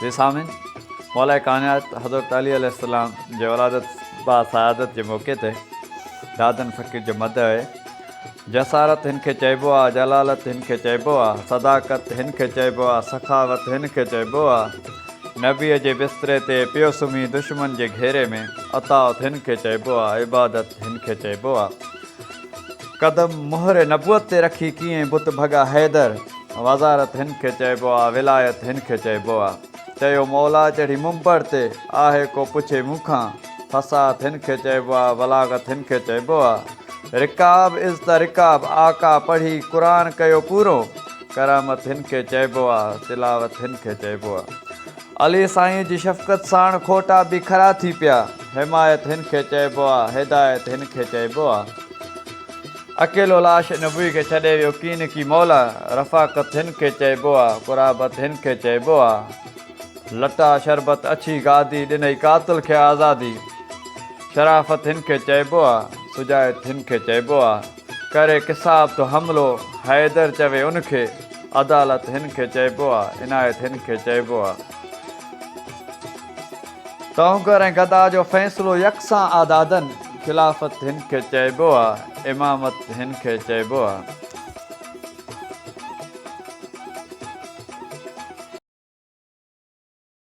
جي سامعين مولائي ڪائنات حضرت علي عليه السلام جي ولادت با سعادت جي موقعي تي دادن فقير جو مدح آهي جسارت هن کي چئبو آ جلالت هن کي چئبو آ صداقت هن کي چئبو آ سخاوت هن کي چئبو آ نبي جي بستري تي پيو سمهي دشمن جي گهيري ۾ اطاعت هن کي چئبو آ عبادت هن کي چئبو آ قدم مهر نبوت تي رکي ڪيئين بت ڀڳا حيدر. وزارت هن کي چئبو آ ولايت هن کي چئبو آ. چيو مولا چڙهي منبر تي آهي ڪو پڇي مون کان. فصاحت هن کي چئبو آ بلاغت هن کي چئبو آ. رڪاب از ته رڪاب آقا پڙهي قرآن ڪيو پورو. ڪرامت هن کي چئبو آ تلاوت هن کي چئبو آ. علي سائينء جي شفقت ساڻ کوٽا به کرا ٿي پيا. حمايت هن کي چئبو آ، هدايت هن کي چئبو آ. اڪيلو لاش نبوي کي ڇڏي ويو ڪين ڪي مولا. رفاقت هن کي چئبو آ، قرابت هن کي چئبو آ. لٽا شربت اڇي گادي، ڏنئي قاتل کي آزادي. شرافت هن کي چئبو آ، سجايت هن کي چئبو آ. ڪري قصاب تو حملو حيدر چوي ان کي عدالت هن کي چئبو آ عنايت هن کي چئبو آ. تونگر ۽ گدا جو فيصلو يڪسان آ دادن خلافت هن کي چئبو آ امامت هن کي چئبو آ.